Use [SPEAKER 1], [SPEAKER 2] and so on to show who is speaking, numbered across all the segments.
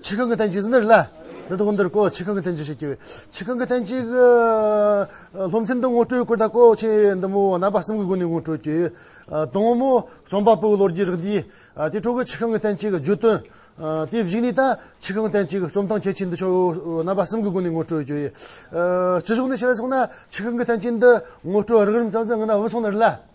[SPEAKER 1] ཆི་ཁང་གི་ཐེན་ཅིག་འདིར་སླེབས། འདི་དག་འདིར་བཀོད་ཆི་ཁང་གི་ཐེན་ཅིག་ཞེས་བགྱི། ཆི་ཁང་གི་ཐེན་ཅིག། སློབ་ཚན་འདི་ངོ་སྤྲོད་སྐོར་དང་བཀོད་ཆེ་འདི་མོ་རྣམ་པ་གསུམ་གྱི་སྒོ་ནས་ངོ་སྤྲོད་བགྱི། དང་མོ། རྩོམ་པ་པོའི་ལོ་རྒྱུས་རིགས་འདི། དེ་ཁྲོད་ཀྱི་ཆི་ཁང་གི་ཐེན་ཅིག་བརྗོད་དོན། དེ་བཞི་ནི་ད། ཆི་ཁང་ཐེན་ཅིག་རྩོམ་སྟངས་གལ་ཆེ་འདི་ཕྱོགས་རྣམ་པ་གསུམ་གྱི་སྒོ་ནས་ངོ་སྤྲོད་བགྱི། ཅི་ཕྱོགས་ནས་ཕྱེ་བས་སོང་ན་ཆི་ཁང་གི་ཐེན་ཅིག་འདི་ངོ་སྤྲོད་རགས་རིམ་ཙམ་ཙམ་ངེས་ན་འོས་སོང་ནི་རེད་ལ།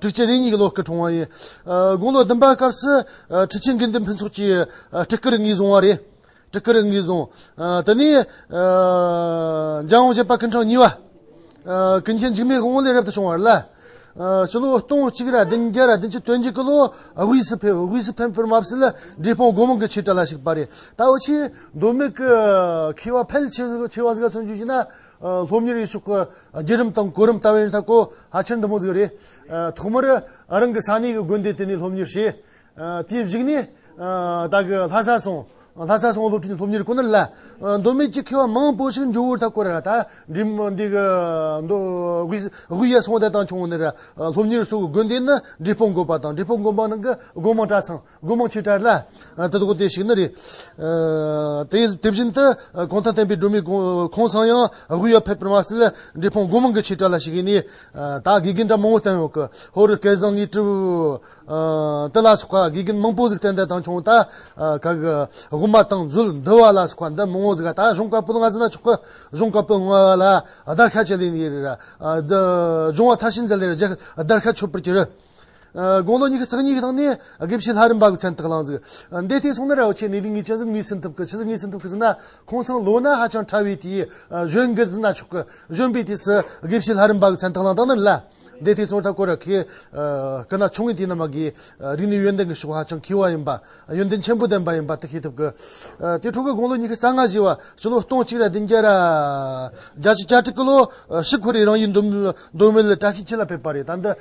[SPEAKER 1] ཁྲི་ཆེན་རེ་གཉིས་ཀྱི་ལོ་སྐལ་གྲོངས་བ་ཡིན། དགུང་ལོ་བདུན་པའི་སྐབས་སུ་ཁྲི་ཆེན་དགེ་འདུན་ཕུན་ཚོགས་ཀྱིས་སྤྲུལ་སྐུར་ངེས་བཟུང་བ་རེད། སྤྲུལ་སྐུར་ངེས་བཟུང། དེ་ནས། འཇང་དབང་བྱེད་པ་ཀུན་གྲངས་གཉིས་པ། ཀུན་མཁྱེན་འཇིགས་མེད་དབང་མོ་ལས་རབ་ཏུ་བྱུང་བ་རེད་ལ། སྤྱི་ལོ་སྟོང་གཅིག་རེ་བདུན་བརྒྱ་རེ་བདུན་ཅུ་དོན་གཅིག་གི་ལོ་དབུས་སུ་ཕེབས། དབུས་སུ་ཕེབས་པར་མ་ཟད་འབྲས་སྤུངས་སྒོ་མང་གི་ཆོས་གྲྭ་ལ་ཞུགས་པ་རེད། ད་བར་ཆེས་མདོ་སྨད་ཀྱི་མཁས་པ་ཕལ་ཆེ་བ་ཚོས་བརྩོན་འགྲུས་བྱས་ན། སློབ་གཉེར་ཡེ་ཤུ་ཁ་བརྒྱད་རིམ་དང་གོ་རིམ་ལྟ་བའི་རིན་ཐང་སྐོར་ཧ་ཅང་དུ་མོ་ཟིག་རེད། ཐོག་མར་རང་གི་ས་གནས་ཀྱི་དགོན་སྡེ་དེ་ནས་སློབ་གཉེར་བྱས། དེའི་གཞིགས་ནས་བདག་གི་ལྷ་ས་སོང། ལྷ་ས་སོང་སློབ་ཁྲིད་ཀྱི་སློབ་གཉེར་ཁོ་ནར་སླད། མདོ་སྨད་ཀྱི་མཁས་བ་མང་པོ་ཞིག་འབྱུང་བར་ཐག་སྐོར་ར་ད་འགྲིམ་འདི་གི་མདོ་དབུས་ཡར་སོང་བསྡད་དང་ཆུང་ནས་སློབ་གཉེར་སོགས་དགོན་སྡེ་ནས་འབྲས་སྤུངས་དགོན་པ་དང་འབྲས་སྤུངས་དགོན་པ་ནང་གི་དགོན་མང་གྲྭ་ཚང། སྒོ་མང་ཆེ་ཕྲ་ལ། དེ་དག་དེ་ཞིག་ནི་རེད། དེ་དེ་བཞིན་དུ། གང་དང་ལྡན་པའི་སྒྲོན་མེ་ཁང་བཟང་ཡང། དབུས་ཡར་ཕེབས་པར་མ་ཟད། འབྲས་སྤུངས་སྒོ་མང་གི་ཆེ་ཕྲ་ལ་ཞིག་ཡིན་ནས། ད་དགེ་རྒན་གྲྭ་མང་བོ་བསྟན་ཡོད། ཧོར་རུ་སྐལ་བཟང་ངེད་སྤྲུལ། དེ་ལ་སོགས་པ་དགེ་རྒན་མང་པོ་ཟིག་བསྟན་ཏེ་དང་ཁྱུང་དག། དབུ་མ་དང་མཛོད་འདུལ་བ་ལ་སོགས་པ་འདི་མང་བོ་ཟིག་ད་གཞུང་བཀའ་པོད་ལྔ་ཟིན་ན་ཆོག་གི། གཞུང་བཀའ་པོད་ལྔ་ལ་བརྡར་ཤ་བྱེད་ལེ་ནི། སྦྱོང་བ་མཐར་ཕྱིན་མཛད་ལེ་རེ་བརྒྱད་བརྡར་ཤ་ཆོད་པར་གྱུར། དགུང་ལོ་ཉི་ཤུ་རྩ་གཉིས་ཀྱི་ནང་ནས་དགེ་བཤེས་ལྷ་རིམ་པ་གི་མཚན་བཏགས་གནང། འདས་ལྟའི་སོང་ན་ར་བ་ཆེ་གནས་ལུགས་ངེས་ཅན་གཟུགས་མེད་སེམས་ཐུབ་ཀྱི་ཕྱི་གཟུགས་ངེས་སེམས་ཐུབ་ཀྱི་ཟིན་ན་ཁོང་ཚང་ལོ་ན་ཧ་ཅང་ཕྲ་བས་དེའི་གཞོན་སྐད་ཟིན་ན་ཆོག་གི་གཞོན་པའི་དུས་སུ་དགེ་བཤེས་ལྷ་རིམ་པ་གི་མཚན་བཏགས་གནང་སྟངས་ནི་ལ་འདས་ལྟའི་ཚོགས་ལྟ་སྐོར་ར་ཁའི་སྐུ་ན་ཆུང་ངས་དེ་རྣམས་ཀྱི་རིགས་ནི་ཡོན་ཏན་གྱི་ཕྱོགས་ཧ་ཅང་མཁས་བ་ཡིན་པ་ཡོན་ཏན་ཆེན་པོ་ལྡན་པ་ཡིན་པ་དེ་ཤེས་ཐུབ་ཀྱི་དེ་འཕྲོ་གི་དགུང་ལོ་ཉི་ཤུ་རྩ་ལྔ་བཞི་བ་སྤྱི་ལོ་སྟོང་གཅིག་ར་བདུན་བརྒྱ་ར་བརྒྱ་བཞི་བརྒྱ་དྲུག་གི་ལོ་ཕྱི་ཁོ་རེ་རང་ཡིས་འདོད་མོས་ལ་བཀྲ་ཤིས་འཁྱིལ་ལ་ཕེབས་པ་རེད་ད་འདི་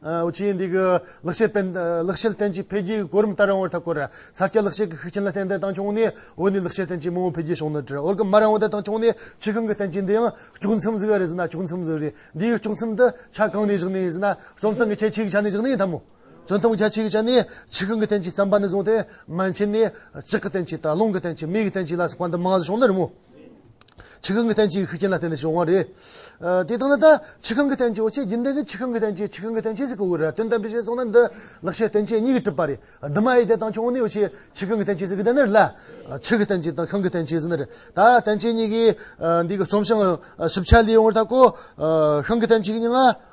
[SPEAKER 1] ཨུ་ཆིའི་འདི་གའི་ལག་ཤེས་པས་ལག་ཤེས་བརྟན་གྱི་འཕེལ་རྒྱས་ཀྱི་གོ་རིམ་ལྟར་རང་དབར་ཐག་བཀོད། གསར་སྐྱེས་ལག་ཤེས་ཀྱི་ཤུགས་རྐྱེན་ལ་བརྟེན་བདེ་ཐང་ཕྱོགས་ནས་འོས་ནས་ལག་ཤེས་བརྟན་གྱི་མང་བོ་འཕེལ་རྒྱས་བྱུང་ན་འགྲིག་འོན་ཀྱང་མ་རང་བདེ་ཐང་ཕྱོགས་ནས་ཆེ་གང་གི་བརྟན་གྱི་འདི་ཡང་ལྕོགས་མཚམས་གཟིགས་རེད་ཟེར་ན་ལྕོགས་མཚམས་གཟིགས་རེད་འདིའི་ལྕོགས་མཚམས་འདི་ཆ་གང་ནས་བཞག་ནས་ཡིན་ཟེར་ན་རྩོམ་སྟངས་ཀྱི་ཁྱད་ཆོས་ཀྱི་ཆ་ནས་བཞག་ནས་ཡིན་ཐབས་མོད། རྩོམ་སྟངས་ཀྱི་ཁྱད་ཆོས་ཀྱི་ཆ་ནས་ཆེ་གང་གི་བརྟན་གྱི་བརྩམས་པ་ནས་བཟུང་སྟེ་མན་ཆད་ནས་ལྕགས་ཀྱི་བརྟན་གྱི་དང་རླུང་གི་བརྟན་གྱི་མིག་གི་བརྟན་གྱི་ལ་སོགས་པ་འདི་མང་བཞིན་བྱུང་ན་རིང་མོད། ཆི་ཁང་གི་ཐན་སྐྱེས་ཤུགས་རྐྱེན་ལ་བརྟེན་ནས་བྱུང་བ་རེད། དེ་ལྟར་ན་ད་ཆི་ཁང་གི་ཐན་སྐྱེས་འོ་ཆས་རྒྱུན་ལྡན་གྱི་ཆི་ཁང་གི་ཐན་སྐྱེས་ཆི་ཁང་གི་ཐན་སྐྱེས་སུ་གོ་དགོས་རེད་དོན་དམ་པའི་གཞན་སོང་ན་འདི་ལག་ཤེས་ཐན་སྐྱེས་གཉིས་ཀྱི་གྲུབ་པ་རེད་འདི་མ་ཡིན་ཏེ་དང་ཁྱོང་ནི་འོ་ཆས་ཆི་ཁང་གི་ཐན་སྐྱེས་སུ་གི་ད་ནི་རེད་ལ། ཆི་ཁི་ཐན་སྐྱེས་དང་ཁང་གི་ཐན་སྐྱེས་སུ་ནི་རེད་ད་ཐན་སྐྱེས་གཉིས་ཀྱི་འདི་གི་རྩོམ་བྱང་ཞིབ་ཆ་ལས་ཡོང་བར་ཐག་གོ། ཁང་གི་ཐན་སྐྱེས་གཉིས་ང།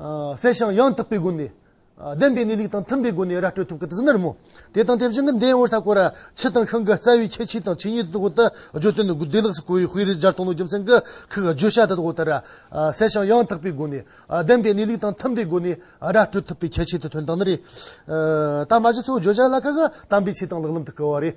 [SPEAKER 1] གསལ་ཞིང་ཡང་དག་པའི་སྒོ་ནས། བདེན་པའི་གནས་ལུགས་དང་མཐུན་པའི་སྒོ་ནས་ར་སྤྲོད་ཐུབ་ཀྱི་དེ་ཟིན་ནར་མོ། དེ་དང་དེ་བཞིན་གྱི་འདས་འོད་ལྷག་གོ་ར། ཕྱི་དང་ཤང་གི་རྩ་བའི་ཁྱད་ཆོས་དང་ཆོས་ཉིད་དུ་དོགས་ལྟ། བརྗོད་དོན་ནི་བདེ་བླག་སུ་གོ་བའི་དཔེ་རིས་སྦྱར་སྟོང་ལོ་རྒྱུ་མཚན་གྱི་ཁུག་བརྗོད་བྱ་དེ་དོགས་ལྟར། གསལ་ཞིང་ཡང་དག་པའི་སྒོ་ནས། བདེན་པའི་གནས་ལུགས་དང་མཐུན་པའི་སྒོ་ནས་ར་སྤྲོད་ཐུབ་པའི་ཁྱད་ཆོས་དེ་དོན་དག་ནི་རེད། དང་མ་བཞི་ཚོ་བརྗོད་བྱ་ལ་ཁག་དམ་པའི་ཆོས་དང་ལག་ལམ་དུ་བཀལ་བ་རེད།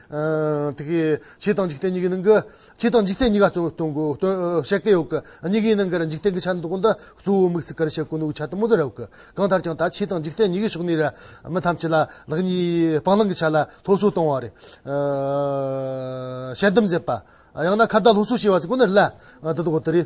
[SPEAKER 1] དེ་གའི་ཆོས་དང་འཇིག་རྟེན་གཉིས་ཀའི་ནང་གི། ཆོས་དང་འཇིག་རྟེན་གཉིས་ཀ་གཙོ་བོ་སྟོན་དགོས། བཤད་སྐད་ཡོད་ཀི། གཉིས་ཀའི་ནང་གི་འཇིག་རྟེན་གྱི་ཆ་ནི་དོ་ཀུན་ཏུ་གཙོ་བོའི་དམིགས་སུ་ཀར་བྱེད་དཀོན་ནོ་གི་ཆ་དེ་མོ་ཙེ་ར་བ་ཀི། གང་ལྟར་ཀྱང་ད་ཆོས་དང་འཇིག་རྟེན་གཉིས་ཀའི་ཕྱོགས་ནས་རེ། མི་ཐམས་ཅད་ལ་ལག་གཉིས་སྤང་བླང་གི་ཆ་ལ་སློབ་གསོ་གཏོང་བ་རེ། ཞལ་གདམས་མཛད་པ། ཡང་ན་ཁ་བརྡ་སློབ་གསོ་བྱེད་པ་ཚོ་ཀུན་ནས་རེ་ལ། དེ་དག་གི་དེ་རེ།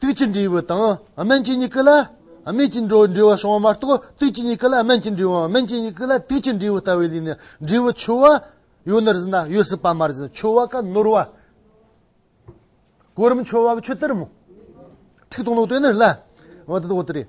[SPEAKER 1] དུས་ཀྱི་འབྲས་བུ་དང་སྨན་གྱི་མྱུ་གུ་ལ་སྨན་གྱི་འབྲས་བུ་བྱུང་བ་མ་གཏོགས་དུས་ཀྱི་མྱུ་གུ་ལ་སྨན་གྱི་འབྲས་བུའམ་སྨན་གྱི་མྱུ་གུ་ལ་དུས་ཀྱི་འབྲས་བུ་ལྟ་བུའི་ལུས་ནི་འབྲས་བུ་ཆུ་བ་ཡོད་ནི་རེད་ན་ཡོད་སྲིད་པ་མ་རེད་ཟེར་ཆུ་བ་ཀ་ནོར་བ། གོ་རིམ་ཆུ་བ་གི་ཆུ་དེར་མོ། ཁྲིག་སྟོང་ལོག་དེ་ནི་རེད་ལ། འོ་དེ་དག་དེ་རེད།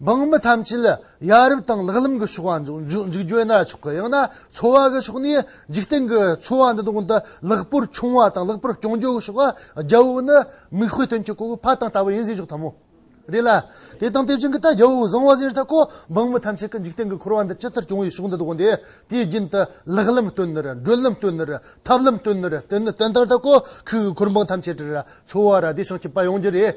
[SPEAKER 1] འབངས་མི་ཐམས་ཅད་ལ་ཡ་རབས་དང་ལག་ལམ་གྱི་ཕྱོགས་བ་འཇུག་རྒྱུ་ན་ཆོག་གི་ཡང་ན་འཚོ་བ་གི་ཕྱོགས་ནས་འཇིག་རྟེན་གྱི་འཚོ་བ་འདི་དག་འདི་ལེགས་པོར་འཁྱོངས་བ་དང་ལེགས་པོར་སྐྱོང་རྒྱུ་གི་ཕྱོགས་རྒྱལ་བོ་ནི་མིག་དཔེ་སྟོན་མཁན་གོ་བོ་ཕ་དང་ལྟ་བུ་ཡིན་ཟེར་ཆོག་ཐབས་མོ་རེད་ལ། དེ་དང་དེ་བཞིན་གྱི་ལྟ་རྒྱལ་བོ་བཟང་བ་ཟེར་ཐག་གོ་འབངས་མི་ཐམས་ཅད་ཀྱི་འཇིག་རྟེན་གྱི་འཁོར་བ་འདི་ཇི་ལྟར་སྐྱོང་བའི་ཕྱོགས་འདི་དག་འདི་དེའི་རྒྱུན་དུ་ལག་ལམ་སྟོན་ནི་རེད་བགྲོད་ལམ་སྟོན་ནི་རེད་ཐབས་ལམ་སྟོན་ནི་རེད་དེ་ནི་དོན་དག་ཐག་གོ་ཁུལ་གྱི་འཁོར་འབངས་ཐམས་ཅད་ཀྱི་འཚོ་བ་ར་བདེ་ཞིང་སྐྱིད་པ་ཡོང་རྒྱུ་རེད།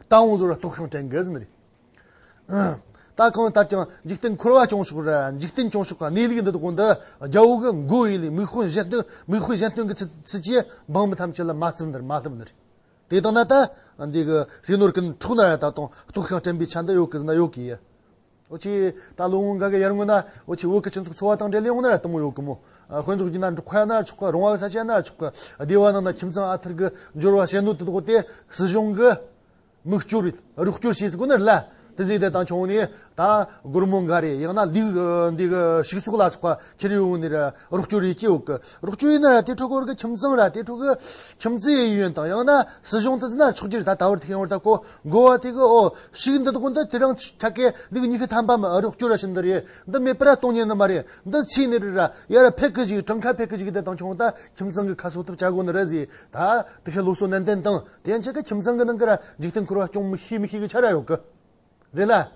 [SPEAKER 1] རྟ་བོང་ཟོར་བ་ལྟོགས་ཤིང་བྲེལ་འགས་ཟིན་རེད། ད་གང་ལྟར་ཀྱང་འཇིག་རྟེན་འཁོར་བ་བྱུང་ཞོག་རེད། འཇིག་རྟེན་བྱུང་ཞོག་གནས་ལུགས་འདི་དག་གོ་འདི་རྒྱ་བོད་ཀྱི་མགོ་དབྱེ་ལས་མིག་དཔེ་གཞན་སྟོན་མིག་དཔེ་གཞན་སྟོན་གྱི་ཚུལ་གྱིས་འབངས་མི་ཐམས་ཅད་ལ་མ་བརྩི་འདིར་མ་བསླབ་ནི་རེད། དེ་དང་ན་ད། འདི་གི་ཟས་ནོར་གྱི་འཕྲོག་ན་ར་ད་དང་ལྟོགས་ཤིང་བྲེལ་པའི་ཆ་འདི་ཡོད་ཀི་ཟིན་ན་ཡོད་ཀི། ཨོ་ཆི། ད་ལོ་སྔོན་གང་གི་ཡར་སྔོན་ན་ཨོ་ཆི་བོད་ཀྱི་སྤྱི་ཚོགས་འཚོ་བ་དང་འབྲེལ་ལས་འོང་ན་ར་ལྟ་མོ་ཡོད་གི་མོ། དཔོན་ཚོགས་ཀྱིས་ན་འབྲུག་ཁ་ཡ་ན་ར་ཆོག་གི་རོང་བ་གི་ས་ཆ་ཡ་ན་ར་ཆོག་གི་སྡེ་བ་རྣམས་ན་ཁྱིམ་ཚང་ཨ་ཐར་གི་འབྱོར་བ་ཞེ་འདོད་དུ་འདོགས་ཏེ་སྲིད་གཞུང་གི་མིག་སྐྱོར་རོགས་སྐྱོར་བྱས་གོ་ན་ར་ལ། དེ་ཟིག་དེ་ད་ཆུང་ནས་ད་སྒོར་མོ་འགའ་རེ་ཡང་ན་ལུག་འདི་གི་ཕྱུགས་ཟོག་ལ་སོགས་པ་ཁྱེར་ཡོང་ནས་ར་རོགས་སྐྱོར་ཡོད་ཀྱི་ཡོད་གི་རོགས་སྐྱོར་ཡོད་ན་ར་དེ་འཕྲོ་སྐོར་གི་ཁྱིམ་ཚང་ར་དེ་འཕྲོ་གི་ཁྱིམ་མཚེས་ཡུལ་ཡོན་དང་ཡང་ན་སྲིད་གཞུང་དེ་ཟིག་ན་ཆོག་གྱི་ར་ད་ད་བར་ཐེ་ཡོང་ར་ལྟ་གོ། འགོ་བ་དེ་གི་འོ་ཕྱུགས་འདི་དགོ་འདི་དེ་རང་ཆ་ཀའི་ལུགས་ཉི་ཤུ་ཐམ་པ་མ་རུ་སྐྱོར་ར་ཤི་འདི་རེད་འདི་མེད་པ་ར་སྟོང་ཉན་ནི་མ་རེད་འདི་ཚིག་ནི་རེད་ར་ཡ་ར་ཕེ་ཀི་ཞིག་གྲང་ཁ་ཕེ་ཀི་ཞིག་དེ་དང་ཁྱོང་ད་ཁྱིམ་ཚང་གི་ཁ་གསོ་ཐུབ་བྱ་དགོ་ནི་རེད་ཟེ་ད་དེ་ཤི་ལུགས་སོ་ནན་ཏན་དང་དེ་ཡན་ཆད་ཀི་ཁྱིམ་ཚང་གི་ནང་གི་ར་འཇིག་རྟེན་འཁོར་བ་སྐྱོང་མི་ཤེས་མི་ཤེས་གི་ཆ་ར་ཡོད་གི་རེད་ལ།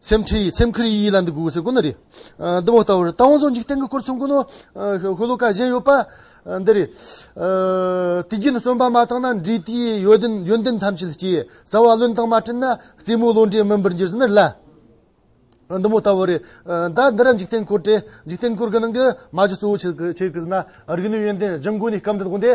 [SPEAKER 1] སེམས་ཁྲི་ཡི་སེམས་ཁུར་ཡིད་ཡིད་ལ་འདི་གུག་ཟེར་དགོས་ནི་རེད། འདི་མོ་ལྟ་བུར་རྟ་བོང་ཚོ་འཇིག་རྟེན་གྱི་སྐོར་གསུང་དགོས་ནོ། ཤོ་ལོ་ཀ་གཞན་ཡོད་པ། འདི་རེད། དུས་རྒྱུན་བརྩོན་པ་མ་བཏང་ན་འབྲས་དེའི་ཡོན་ཏན་ཐམས་ཅད་སྐྱེ། བྱ་བ་ལོན་སྟངས་མ་བྲིན་ན་རྩེད་མོའི་བློ་འདྲེ་མིན་པར་འགྱུར་ཟེར་ནི་ལ། འདི་མོ་ལྟ་བུ་རེད། ད་འདི་ར་འཇིག་རྟེན་སྐོར་དྲན། འཇིག་རྟེན་སྐོར་གི་ནང་གི་མ་གཞི་གཙོ་བོ་ཆེ་གི་ཟེར་ན་རིག་ནུས་ཡོན་ཏན་སྦྱིན་དགོས་ནི་སྐབས་འདི་དགོངས་ཏེ།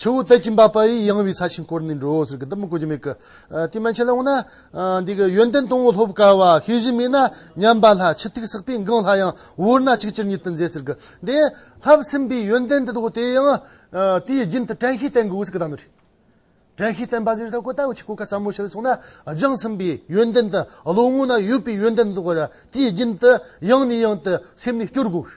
[SPEAKER 1] ཆུ་བོ་དལ་གྱིས་འབབ་པ་ཡི་ཡངས་བའི་ས་ཞིང་བསྐོར་ནས་འགྲོའོ་ཟེར་གི་འདི་མི་གོ་རྒྱུ་མེད་གི། དེ་མན་ཆད་ལ་འོངས་ན། འདི་གི་ཡོན་ཏན་སྟོང་བུ་ལྷོ་བུ་ཀ་བ་ཤེས་བཞིན་མེད་ན་ཉམས་པ་ལྷ་ཕྱི་ཐིག་བསགས་པས་འགངས་ལྷ་ཡང་བོར་ན་གཅིག་ཅིར་ཉིད་དུ་མཛད་ཟེར་གི། དེ་ལྷར་སེམས་པའི་ཡོན་ཏན་དེ་དག་དེ་ཡང། དེའི་རྒྱུན་དུ་བྲན་ཤེས་བསྟེན་དགོས་ཟེར་གི་གདམས་ངག་བྲིས། བྲན་ཤེས་བསྟེན་པ་ཟེར་ཐག་གོ་ད་ཆི་གོ་ཁ་ཙམ་མོ་བྱེད་སོང་ན་རྒྱང་སེམས་པའི་ཡོན་ཏན་དང་ལོ་ངོ་ན་ཡོད་པའི་ཡོན་ཏན་དེ་དག་དེའི་རྒྱུན་དུ་ཡང་ནས་ཡང་དུ་སེམས་ནས་སྐྱོར་དགོས།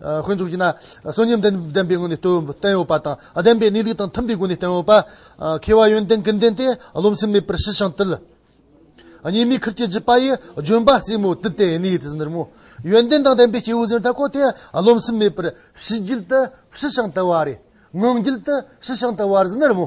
[SPEAKER 1] དཀོན་མཆོག་གིས་ན་གསོན་ཉམས་ལྡན་པའི་སྔོན་ནས་བསྟན་ཡོད་པ་དང། བདེན་པའི་གནས་ལུགས་དང་མཐུན་པའི་སྒོ་ནས་བསྟན་ཡོད་པ། མཁས་པ་ཡོན་ཏན་ཀུན་ལྡན་ཏེ་རློམ་སེམས་མེད་པར་ཞི་ཞིང་དུལ། ཉེས་དམིགས་ཁུར་བྱེད་བགྱིད་པ་ཡི་ལྗོན་པ་རྩེ་མོ་དུད་དེ་ནི་དེ་ཟིན་རྨོ། ཡོན་ཏན་དང་ལྡན་པའི་སྐྱེ་བོའི་ཟེར་ཐབས་ཁོ་དེ་རློམ་སེམས་མེད་པར་ཞི་བགྱིད་དུ་ཞི་ཞིང་དུལ་བ་རེ། ངང་རྒྱུད་དུ་ཞི་ཞིང་དུལ་བར་ཟིན་རྨོ།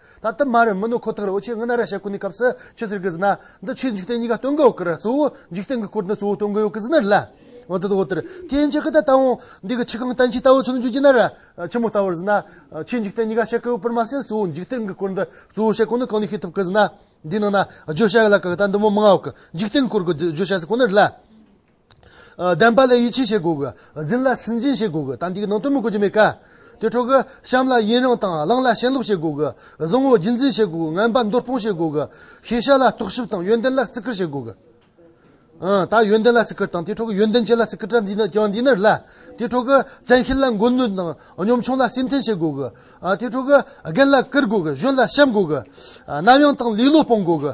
[SPEAKER 1] ད་དུ་མ་རེད་མི་ནོར་ཁོ་ཐག་རེད་འོ་ཆོས་ངན་ན་ར་ཤ་ཀུན་ནས་སྐབས་སུ་ཆོས་ཟེར་གི་ཟིན་ན། འདི་ཆོས་འཇིག་རྟེན་གཉིས་ཀ་སྟོན་གི་ཡོད་ཀི་རེད་གཙོ་བོ་འཇིག་རྟེན་གྱི་སྐོར་འདི་གཙོ་བོ་སྟོན་གི་ཡོད་ཀི་ཟིན་ན་རེད། འོ་འདི་འོ་དེ་རེད་དེ་ཡིན་ཕྱིར་ཀི་ད་ལྟ་འོང། འདི་གི་ཆི་གང་བསྟན་ཆོས་ལྟ་བུ་ཚུལ་འཇུག་རྒྱུ་ན་ར། ཆི་མོ་ལྟ་བུར་ཟིན་ན། ཆོས་འཇིག་རྟེན་གཉིས་ཀ་བཤད་ཀི་ཡོད་པར་མ་ཟད་གཙོ་བོ་འཇིག་རྟེན་གྱི་སྐོར་འདི་གཙོ་བོ་བཤད་གོ་ནི་གང་ནས་ཤེས་ཐུབ་ཀི་ཟིན་ན། འདིའི་ནང་ན་བརྗོད་བྱ་ཡོད་ལ་ཀི་ད་འདི་མོ་མང་ཡོད་ཀི་འཇིག་རྟེན་གྱི་སྐོར་གྱི་བརྗོད་བྱ་ཟེར་གོ་ནི་རེད་ལ། བདེན་པ་ལ་ཡིད་ཆེས་བྱེད་དགོས་གི། འཛིན་ལ་སུན་འབྱིན་བྱེད་དགོས་གི། དམ་ཚིག་གི་ནང་དོན་མི་གོ་རྒྱུ་མེད་ཀ། དེ་འཕྲོག་གི། བྱམས་ལ་ཡིན་རང་དང་བླངས་ལ་ཞེན་ལོག་བྱེད་དགོས་གི། བཟང་བོ་རྒྱུད་འཛིན་བྱེད་དགོས་གི། ངན་པ་འདོར་སྤོང་བྱེད་དགོས་གི། ཤེས་བྱ་ལ་རྟོག་ཞིབ་དང་ཡོན་ཏན་ལ་བརྩི་བཀུར་བྱེད་དགོས་གི། ད་ཡོན་ཏན་ལ་བརྩི་བཀུར་དང་དེ་འཕྲོག་གི་ཡོན་ཏན་ཅན་ལ་བརྩི་བཀུར་དྲ་འདིས་ཀྱང་འདི་ནི་རེད་ལ། དེ་འཕྲོག་གི། བཙན་ཤེད་ལ་མགོ་གནོན་དང་གཉོམ་ཆུང་ལ་སེམས་འཐེན་བྱེད་དགོས་གི། དེ་འཕྲོག་གི། རྒན་ལ་བཀུར་དགོས་གི་གཞོན་ལ་བཤམ་དགོས་གི། གནའ་དབྱངས་དང་ལེ་ལོ་སྤོང་དགོས་གི།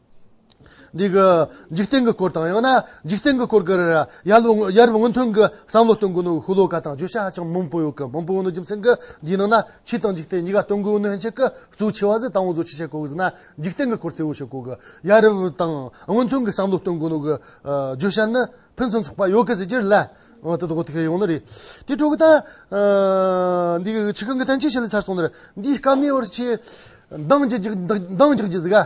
[SPEAKER 1] འདི་གི་འཇིག་རྟེན་གྱི་སྐོར་དང་ཡང་ན་འཇིག་རྟེན་གྱི་སྐོར་གྱི་ཡར་སྔོན་ཐོན་གྱི་བསམ་བློ་སྟོན་དགོས་ནུའི་ཧུ་ལོ་ཀ་དང་བརྗོད་བྱ་ཧ་ཅང་མང་པོ་ཡོད་ཀི་མང་པོ་ཡོད་ནི་རྒྱུ་མཚན་གྱི་འདིའི་ནང་ན་ཕྱི་དང་འཇིག་རྟེན་གཉིས་ཀ་སྟོན་དགོས་ནུའི་ཧན་ཆད་ཀྱི་གཙོའི་ཆེ་བ་ཟི་དང་བོ་གཙོ་ཆེ་བྱེད་དགོས་ཀྱི་ཟི་ན་འཇིག་རྟེན་གྱི་སྐོར་གཙོ་བོ་བྱེད་དགོས་ཀྱི་ཡར་སྔོན་ཐོན་གྱི་བསམ་བློ་སྟོན་དགོས་ནུའི་བརྗོད་བྱ་ནི་ཕུན་སུམ་ཚོགས་པ་ཡོད་ཀྱི་ཟི་རྒྱུ་ལ་འོ་དོ་དོ་ཐེ་ཡོང་ནི་རེད་དེ་དྲུག་ད་འདི་གི་ཕྱི་གང་གི་ཐན་ཆེ་བྱེད་ལ་ཚར་སོང་ནི་རེད་འདིའི་སྐབས་ནས་བར་ཆད་འདང་རྒྱག་རྒྱུ་ཟི་ག།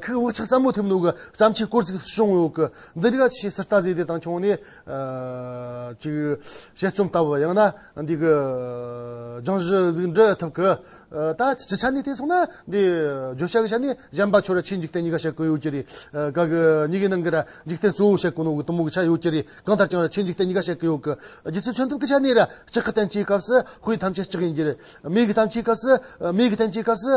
[SPEAKER 1] ཁུག་དབུགས་ཆག་ཟབ་མོ་ཐེབས་འདུག་བརྩམས་ཆོས་སྐོར་ཅིག་བྱུང་ཡོད། འདི་རིགས་ཆེས་གསར་རྟགས་ཟད་དེ་དང་ཁྱོངས་ནས་ཅིག་དཔྱད་རྩོམ་ལྟ་བུ་ཡང་ན་འདི་གི་སྦྱང་གཞི་གཟིགས་འབྲི་ཐུབ་ཀི། ད་སྤྱི་ཆ་ནས་བལྟས་སོང་ན་འདི་བརྗོད་བྱ་གི་ཆ་ནས་གཞན་པ་ཁྱོད་ར་ཆེས་འཇིག་རྟེན་གཉིས་ཀ་བཤད་དགོས་ཡོད་ཀྱི་རེད། ག་གི་གཉིས་ཀའི་ནང་གི་ར་འཇིག་རྟེན་གཙོ་བོ་བཤད་དགོས་ནོ་གི་གཏུམ་མོ་གི་ཆ་ཡོད་ཀྱི་རེད་གང་ལྟར་ཀྱང་ར་ཆེས་འཇིག་རྟེན་གཉིས་ཀ་བཤད་ཀི་ཡོད་ཀི། རྗེ་བཙུན་མཚོན་ཐབས་ཀི་ཆ་ནས་ར་གཅིག་གི་བསྟན་བྱའི་སྐབས་སུ་ཧུའི་ཐམས་ཅད་གཅིག་ཡིན་གྱི་རེད། མིའི་གི་ཐམས་ཅད་སྐབས་སུ་མིའི་གི་བསྟན་བྱའི་སྐབས་སུ།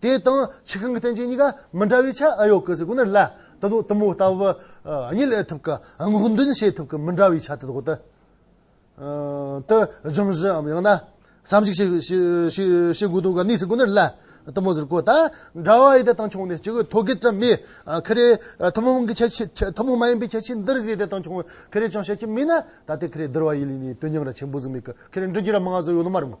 [SPEAKER 1] དེ་དང་ཆུ་ཤིང་གི་རྟེན་ཅན་གཉིས་ཀ་མི་འདྲ་བའི་ཆ་ཨེ་ཡོད་ཀི་ཟེར་དགོས་ན་ལ་དེ་དག་གཏུམ་མོའི་ལྟ་བ་གཉིས་ལས་ཐུབ་ཀི་སྔོག་འདོན་བྱེད་ཐུབ་ཀི་མི་འདྲ་བའི་ཆ་དེ་དག་དུ་སྦྱང་གཞིའམ་ཡང་ན་བསམ་གཞིག་བྱེད་དགོས་དོན་ག་ནས་ཟེར་དགོས་ན་ལ་གཏུམ་མོ་ཟེར་དགོས་ད་འདྲ་བ་ཡི་དེ་དང་ཆུང་ནས་ཅི་གི་ཐོ་གི་བཀྲམ་མེད་ཁེ་རེ་ཐུན་མོང་གི་ཁྱད་ཆོས་ཐུན་མོང་མ་ཡིན་པའི་ཁྱད་ཆོས་འདིར་ཟེར་དེ་དང་ཆུང་ཁེ་རེ་ཅང་བཤད་ཀྱི་མེད་ན་ད་ལྟའི་ཁེ་རེ་བསྡུར་བ་ཡི་ལས་ནི་དོན་སྙིང་ར་ཆེན་པོ་ཟིག་མེད་ཀི་ཁེ་རེ་འབྲི་རྒྱུ་ར་མང་བ་ཟིག་ཡོད་ནི་མ་རེད་མོད།